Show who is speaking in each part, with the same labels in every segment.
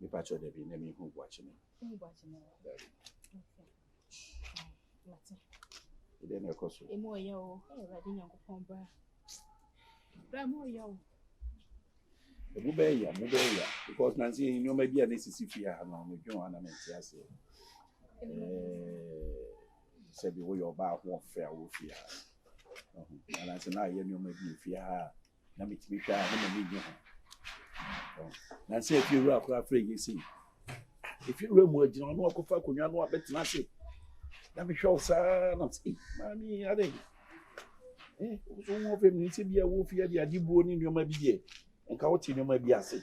Speaker 1: Mepa kyɛw dabi na mi hu buakye no. Hu buakye no. Dabi. Mate. Ede na ɛkɔ so. Emu ɔyɛ o. Awurade Nyankopɔn bra. Bra mu ɔyɛ o. Emu bɛyɛ ya, mu bɛyɛ ya. Because na nse nneɛma bi a na esisi fie ha no, medwen ho ana mente ase. Sɛ bi woyɛ ɔbaa ho ɔfrɛ a wofie ha. Na nse na ayɛ nneɛma bi fie ha a na metumi hwɛ a na m'ani gye ho nansa efie wura koraa frɛ yie sei efie wura mu agyina ɔno akɔfa akonnwa no abɛtena ase na mehwɛ wo saa na sɛ maame ade eh wo so wo ho fam ne sɛ bia wo fie ade ade buo ne nneɛma bi deɛ nka wote nneɛma bi ase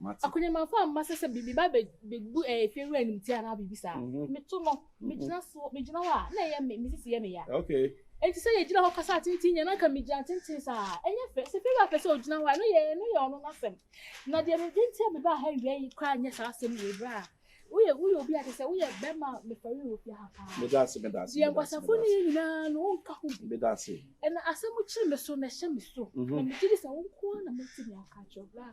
Speaker 1: Mate. Akunyamafo a mma sɛ sɛ biribi ba bebu fie wura animtia anaa biribi saa. Mhm. Meto no, megyina so, megyina hɔ a, na ɛyɛ me, me sisi yɛ me ya. Okay. Enti sɛ yɛgyina hɔ kasa atenten nyɛ, na nka megyina tenten saa. Ɛnyɛ fɛ. Sɛ fie wura pɛ sɛ ogyina hɔ a, ɛno yɛ, ɛno yɛ ɔno n'asɛm. Na deɛ mede nti a mebaa ha awia yi koraa nyɛ saa asɛm wei bra a, woyɛ woyɛ obi a kyerɛ sɛ woyɛ bɛrima a mefɛre wɔ fie ha paa meda ase meda ase deɛ nkwasafo ne yɛ nyinaa no wonka ho bi meda ase ɛna asɛm kyere me so na ɛhyɛ me so na megye di sɛ wo nko ara na mɛtumi aka kyerɛ bra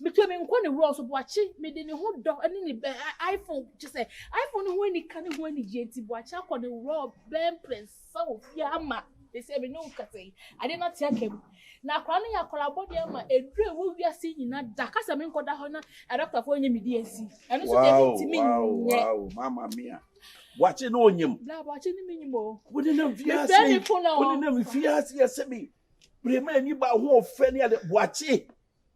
Speaker 1: Metua me nkwa ne wura so Boakye mede ne ho dɔ ne ne bɛ iPhone kyɛ sɛ iPhone ne ho anika ne ho anigyeɛ nti Boakye akɔ ne wura bɛn mprɛnsa wɔ fie ama ɛsɛ me ne wo kasa yi adeɛ no ate aka mu na akwadaa no yɛ akwadaa bɔne ama ɛduru ɛwɔ wiase nyina da kasa me nkɔda hɔ na adɔktafoɔ nyɛ me deɛ nsi ɛno nso deɛ ɛde ntimi nyɛ mama mia Boakye ne onyim bla Boakye ne menyim o wode nam fie ase wode nam fie ase yɛ sɛ me berɛ ma ani ba ho ɔfɛ ne ade Boakye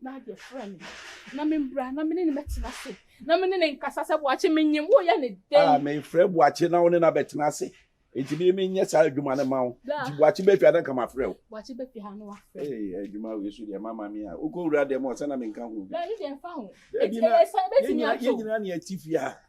Speaker 1: na ade frɛ me na membra na mene ne mɛtena ase na mene ne nkasa sɛ boakye menyem woyɛ ne dɛn a mefrɛ boakye na wo ne no abɛtena ase nti mene menyɛ saa adwuma no ma wo nti boakye bɛfia na nka mafrɛ wo boakye bɛfia ha no wafrɛ adwuma wei so deɛ mama me a wokɔwura dɛm ɔsɛ na menka ho bi yɛnyina ne ati fie a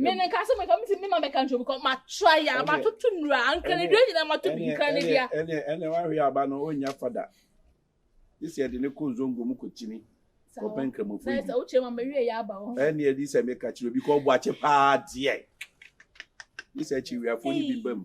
Speaker 1: me ne nka sɛ meka mesi ne ma mɛka nkyɛ bikɔ matra yɛ a matoto nnura ankanadua nyinaa mato bi nkanadua ɛne wahwe aba no ɔnya fada gye sɛ ɛde ne kɔ nzongo mu kɔkyini kɔpɛ nkramofo yi sɛ wokyerɛ ma mawie yɛ aba hɔ ɛne ɛde sɛ meka kyerɛ obi kɔ ɔbɔ akye paa deɛ gye sɛ akyiwiafoɔ no bi ba mu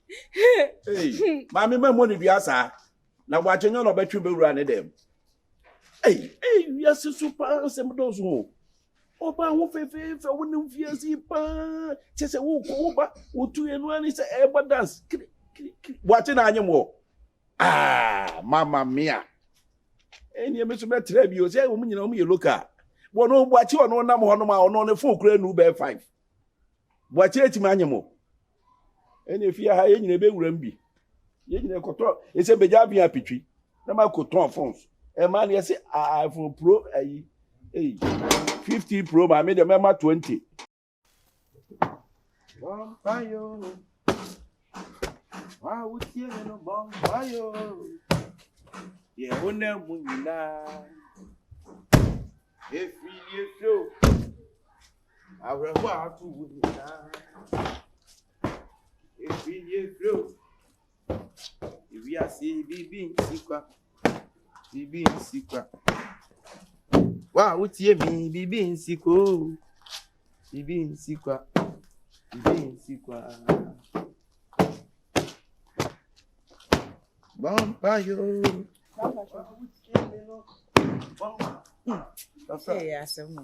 Speaker 1: maame ma mmɔ ne dua saa na wakyɛ nyɛ na ɔbɛtwe bɛwura ne dɛm wiase so paa nsɛm dɔɔso o ɔba ho fɛfɛɛfɛ wo ne mfiase paa kyɛ sɛ wokɔ wo ba wotu ɛnu ani sɛ ɛbɔ dance kirikirikiri wakye na anyem wɔ ah mama mia ɛnneɛ me so bɛtrɛ bi o sɛ wɔn nyinaa wɔn yɛ local wɔn wakye ɔno nam hɔ nom a ɔno ne fon kura nu bɛɛ five Boakye etumi anye mo. Ɛna efie ha yɛn nyinaa ebewura mu bi. Yɛn nyinaa kɔtɔ ɛsɛ bɛgya abin apitwi na ma kɔ tɔn phones. Ɛmaa no yɛse iPhone Pro ayi. Ei, 50 Pro ma me deɛ mɛma 20. Bɔmpayo, wa wotie me no bɔmpayo, yɛ wo na mu nyinaa. Efiri efiri o. Awerɛhoɔ a ato wo nyinaa ɛfiri nie firi o ewiase biribi nsi kwa biribi nsi kwa wa a wotie mi biribi nsi kwa o biribi nsi kwa biribi nsi kwa bɔmpa yo wa a wotie mi no bɔmpa. Ɔsɛ yɛ asɛm o.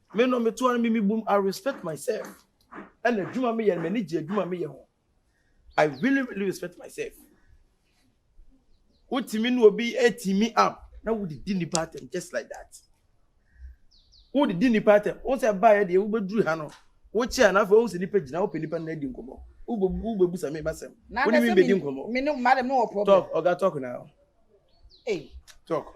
Speaker 1: Me no me to ara me mibu mu I respect myself ɛna adwuma me yɛ no m'ani gye adwuma me yɛ ho I really really respect myself wotumi ne obi atumi up na wodidi nipa atɛm just like that wodidi nipa atɛm wo sɛ baa yɛ deɛ wobɛduru ha no wokyɛ a na afei wohu sɛ nipa gyina wopɛ nipa no adi nkɔmmɔ wobɛbusa me masɛm wone me bɛdi nkɔmmɔ talk ɔga talk now hey. talk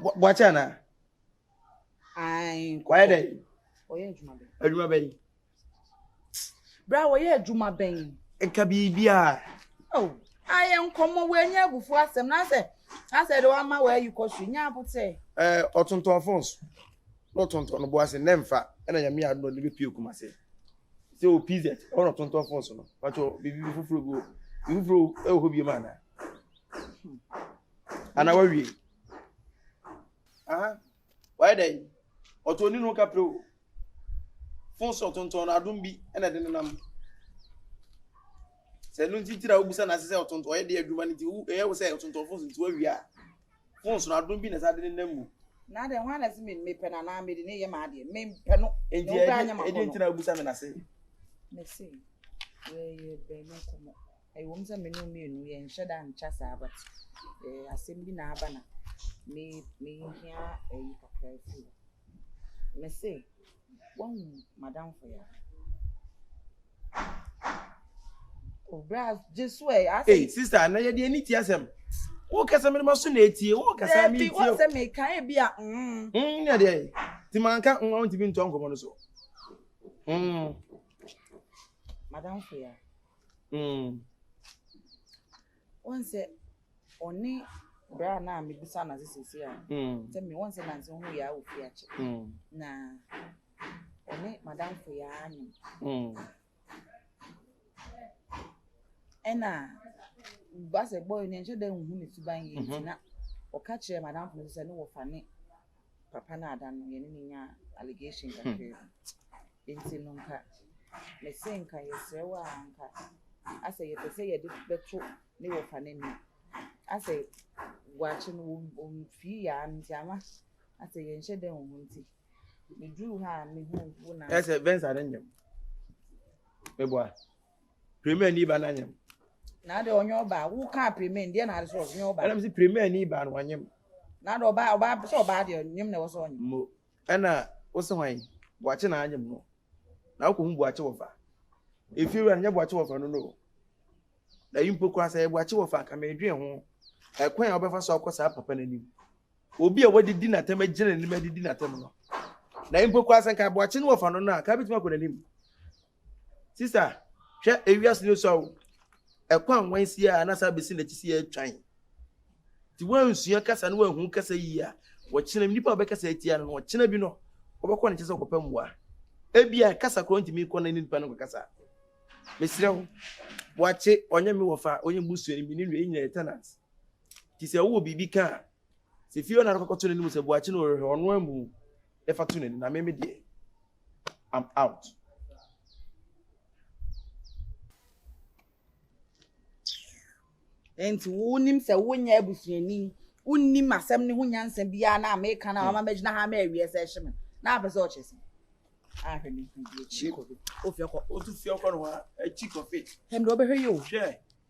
Speaker 1: Boakye anaa? Wayɛ dɛ? Adwuma bɛn? Bra wɔyɛ adwuma bɛn? Nka biribiara. Oh, ayɛ nkɔmmɔ wɔanya abufuo asɛm na sɛ asɛ de wama wɔayi kɔ so nya abotɛ. Ɛɛ ɔtontɔn phones na ɔtontɔn no boase na mfa ɛna nyame yɛ adom de bɛpie kuma se sɛ wɔ pz ɛwɔ na ɔtontɔn phones no patwɔ biribi foforɔ bi wɔ biribi foforɔ ɛwɔ hɔ biom anaa Ana wawie? Aha. Wayɛ dɛn? Ɔtɔ ni no kapre o. Fon sɔ tontɔn no adom bi na ɛde nenam. Sɛ ɛno nti tira wobusa na ase sɛ ɔtontɔn ɔyɛ de adwuma no nti wo ɛyɛ wo sɛ ɔtontɔn fon so nti wawie a. Fon so no adom bi na ɛsɛ de nenam mu. Na de hwan na se me mepɛ na na me de ne yɛ ma adeɛ. Me mpɛ no. Enti ɛde nti na wobusa me na se. Me se. Yɛ yɛ bɛn no kɔmɔ. Ɛwom sɛ me ne wo mmienu yɛnhyɛ da nkyɛ saa but eh, asɛm bi na aba na me mehia ayi kakra afi hɔ. Me se, woahu madamfo ya? Obra oh, Jesu ɛ eh, asɛ. Hey sister, na yɛde ani ti asɛm. Wo kasa me ma so na etie, wo kasa me tie. Ebi wo sɛ me ka e bi a. Mm. Mm, ne de. Ti man ka nwa ntimi nto ankomo no so. Mm. Madamfo ya. Mm. Wɔn sɛ ɔne bra na mebisa na sɛ sisi a. Mm. Sɛ me wɔn sɛ nansi ho yɛ awo fi akyi. Mm. Na ɔne madam fo yɛ anyim. Mm. Ɛna basɛ bɔyɛ ne nhyɛ dɛ nhu ne suban yɛ nti na ɔka kyerɛ madam fo sɛ ne wɔfa ne. papa no ada no yɛne no nya allegation kakra hmm. bi nti no nka mese nka yɛsrɛ wo a nka asɛ yɛpɛ sɛ yɛde bɛto ne wɔfa no ani asɛ wakye no wɔmfii yaa no nti ama asɛ yɛnhyɛ dɛn wɔ ho nti meduru hɔ a mehu wo na ɛsɛ bɛnsa no nyam meboa Premier ni ba na nyem. Na de onye oba wo ka premier ndi na ade so onye oba. Na me se premier ni ba no onyem. Na de oba oba so oba de onyem na wose onyem. Mo na wose hwan boakye na anyem no. Na wo ko hu boakye wo fa. Efie wura no nye boakye wo fa no no. Na yi mpo kura sa ye boakye wo fa ka me dwen ho. Ekwan a obefa so akɔ sa papa na nim. Obi a wadi di na tem agyina na nim adi di na tem no. Na yi mpo kura sa nka boakye no wo fa no no a ka betumi akɔ na nim. Sista, hwɛ ewiase no sua o. Ɛkwan nwansia a na saa besi n'akyi sɛ yɛatwan. Nti woansua kasa na woanhu kasa yie a, ɔkyena bi nipa a ɔbɛkasa atia no no, ɔkyena bi no, wobɛkɔ ne nkyɛn sɛ wokɔpɛ mmoa. Ebia kasa koraa ntumi nkɔ na ne nipa no nkɔkasa. Mesrɛ wo, wakye, ɔnyɛ me wɔfa, ɔnyɛ me busuani, me ne nua, yɛn nyinaa yɛ tenants. Nti sɛ wowɔ biribi ka a, Sɛ fie hɔ na ɔkɔkɔto n'anim sɛ boakye na ɔrehwɛ ɔno ammu na fa to n'ani na meme deɛ I'm out. nti wonim sɛ wonyɛ abusuani wonim asɛm ne ho nyansa biara na meka na wama magyina ha ma awie sɛ hye me na apɛ sɛ ɔkyɛ sɛ ahwɛ ne mfidi akyi kɔfe ofi ɔkɔ otu fi ɔkɔ no hɔ akyi kɔfe ɛm de ɔbɛhwɛ yi o hwɛ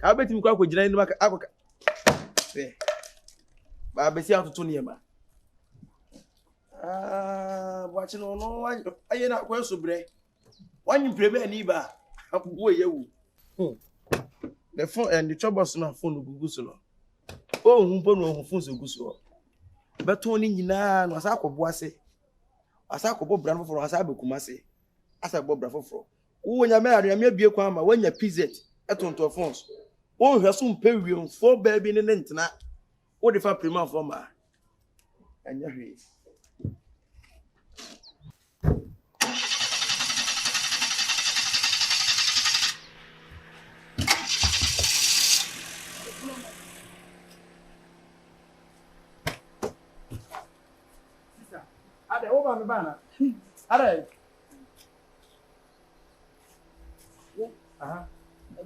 Speaker 1: Kaa bɛtumi kɔ akɔgyina anim akɔka sɛ baabɛsi atoto nneɛma ah, boakye no ɔno ayɛ no akwan so berɛ wanye mpire bɛɛ ni ba aboɔ yɛ wu hmm. ne fon ɛne twɛbɔ so na fon no gugu so no ɔhu mpo na ɔhu fon so gu soɔ bɛtɔn ne nyinaa na ɔsan akɔboa se ɔsan akɔbɔ bra no foforɔ ɔsan abɛkuma se asan abɔ bra foforɔ. Wowɔ Nyame a, Nyame abue kwan ama woanya PZ tontɔn phone so. Wo nhwɛso mpɛ wiemfoɔ baa bi ne ne ntena, wode fa Pirimanfoɔ mmaa. Ɛnyɛ hwee. Sisa. Adɛ wo ba me ba ana? Adɛ. Wo. Aha.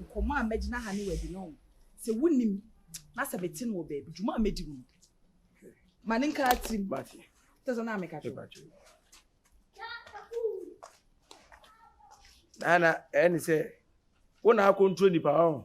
Speaker 1: Nkɔmɔ a mɛgyina ha ne wadi no sɛ wonim na sɛ mete no wɔ baabi dwuma a mɛdi mu no ma ne nka atirim tɛ sɛ na meka kyerɛ Nana, ɛne sɛ wo na akɔntro nipa ɔho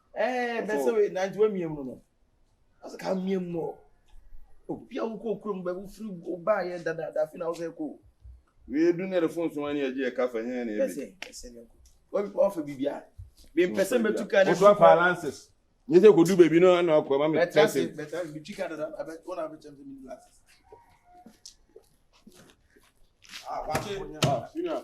Speaker 1: Ɛɛ bɛ sɛ oye nante wamia mu no no. Ɔsɛ ka mia mu ɔ. Obi a wokɔ kurom bɛ wofiri wobaa yɛ dadaada fi na wo sɛ kɔ. Wei du ne de fo nso ani agye ɛka fa hɛn na ebe. Bɛsɛ bɛsɛ ne nkɔ. Wɔfa bibia. Bi mpɛ sɛ mɛtu ka ne so. Wosɔ fa lances. Nye sɛ kɔdu baabi no ana ɔkɔ ma me tɛse. Bɛtase bɛtase bitwi ka dada abɛ wɔn abɛ kyɛm sɛ mini lances. Ah, wakye. Ah, senior.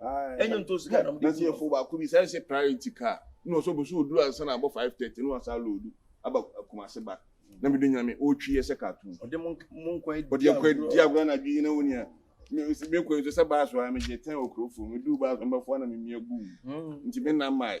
Speaker 1: ɛnyɛ ntɔ sika na ɔmo de si yɛ fo baako bi sɛ ɛsɛ priority car na ɔsɛ ɔbɛsɛ ɔduru ansa na abɔ five thirty na wasa loodu aba kumase ba na mi do nyame ɔtwi yɛ sɛ cartoon ɔde mo nkwa edi agorɔ ɔde nkwa edi agorɔ na adwi nyina onia mi mi nkwa nso sɛ baas wa mi gye ten okuro fo mi du baas mbɛfo na mi mia gu nti mi nam maayi.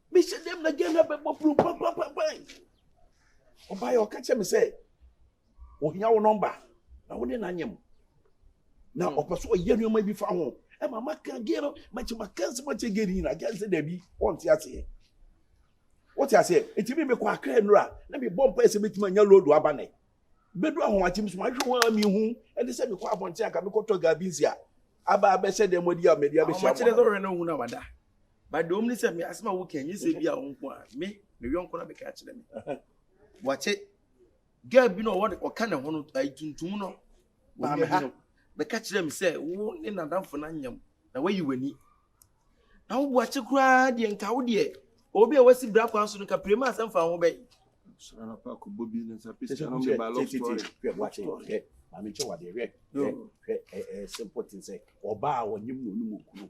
Speaker 1: Me sɛ dɛm na Ghana bɛbɔ bro papapapan. Ɔbaeɛ ɔka kyerɛ me sɛ ohia wo nɔmba na wo ne no anyɛ mu. Na hmm. ɔpɛ so ɔyɛ nneɛma bi fa ho. Ɛma maka gɛ no makyɛ maka nsɛm akyɛ gɛ no nyina gɛ sɛ daabi ɔnte aseɛ. Wote aseɛ ɛti me mekɔ akra nnura na mebɔ mpae sɛ mɛtumi anya lodo aba nɛ. Bɛdu ahomakye mu so mahwɛ wɔn a mehu ɛne sɛ mekɔ abɔnten anka mekɔtɔ gabi nsi a aba abɛhyɛ dɛm adi a mɛdi abɛhyia mu. Ahomakye dɛ sɛ ɔhwɛ na ɔhu na wada. but deɛ ɔmu ne sɛ me asɛm a woka nyɛ sɛ bi a wo nko a me me yɔnko na meka kyerɛ me wɔte girl bi na ɔwɔ ɔka ne ho no ayi tuntum no maame ha bɛka kyerɛ me sɛ wo ne nadamfo no anyam na wayi w'ani na wo boakye koraa deɛ nka wo deɛ obi a wasi bra kwan so no ka pere ma asɛm fa ho bɛyi maame nkyɛ wadeɛ hwɛ hwɛ simple thing sɛ ɔbaa a ɔnyem na ɔne mu kunu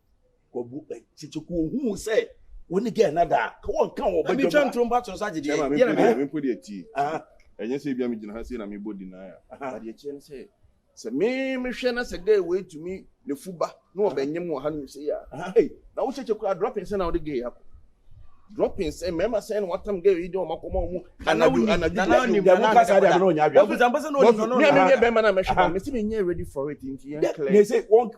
Speaker 1: wɔbu tete ko ohun sɛ wɔn ne gɛɛ na da ka wɔn ka wɔn bɛdwa mu a ntoro mpa to nsa gye deɛ yɛn na mɛ mpo deɛ ti ɛnyɛ sɛ ebi a mi gyina ha sei na mi bɔ di naa adeɛ kyerɛ ne sɛ sɛ mi mi hwɛ na sɛ gɛɛ wei tumi ne fu ba na ɔbɛ nyɛ mu ɔha no sɛ yɛ a ee na wo kyekye kura dropping sɛ na ɔde gɛɛ akɔ dropping sɛ mɛɛma sɛ na watam gɛɛ yi de ɔmo akɔma ɔmo anadu anadu deɛ ɛdi ɛdi ɛdi kasa deɛ ɛdi ɔnyɛ adwene mi a mi yɛ bɛɛma na mɛ hwɛ mi si mi nyɛ ready for it nti yɛn clear.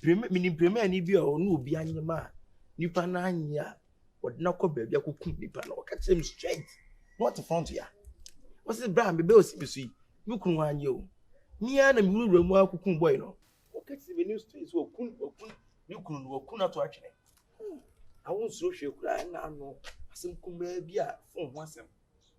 Speaker 1: Prima menim pirmani bi a ɔne obi anyem a nipa no anye a ɔde no akɔ baabi akɔkum nipa no ɔka kyerɛ me straight na ɔte front ya ɔse bra mebɛ ɔsi me so yi me kunu anye o mea na mewurawura mu akɔkum bɔi no ɔka kyerɛ me ne straight so ɔkun ɔkun ne kunu no ɔkun ato atwene awo nsuro hwee koraa na ano asɛm kumaa bi a fon ho asɛm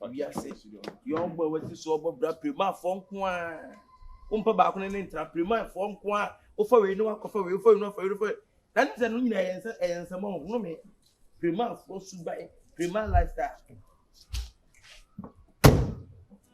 Speaker 1: wiase yɔn bɔ wɔte so ɔbɔ bra pirimafoɔ nko a wompɛ baako ne ne ntra pirimafoɔ nko a wofa wei ne wakɔfa wei wofa wei ne wafa wei wofa wei na ne sɛ no nyinaa ɛyɛ nsɛ ɛyɛ nsɛm ɔhono me pirimafoɔ suban pirima lifestyle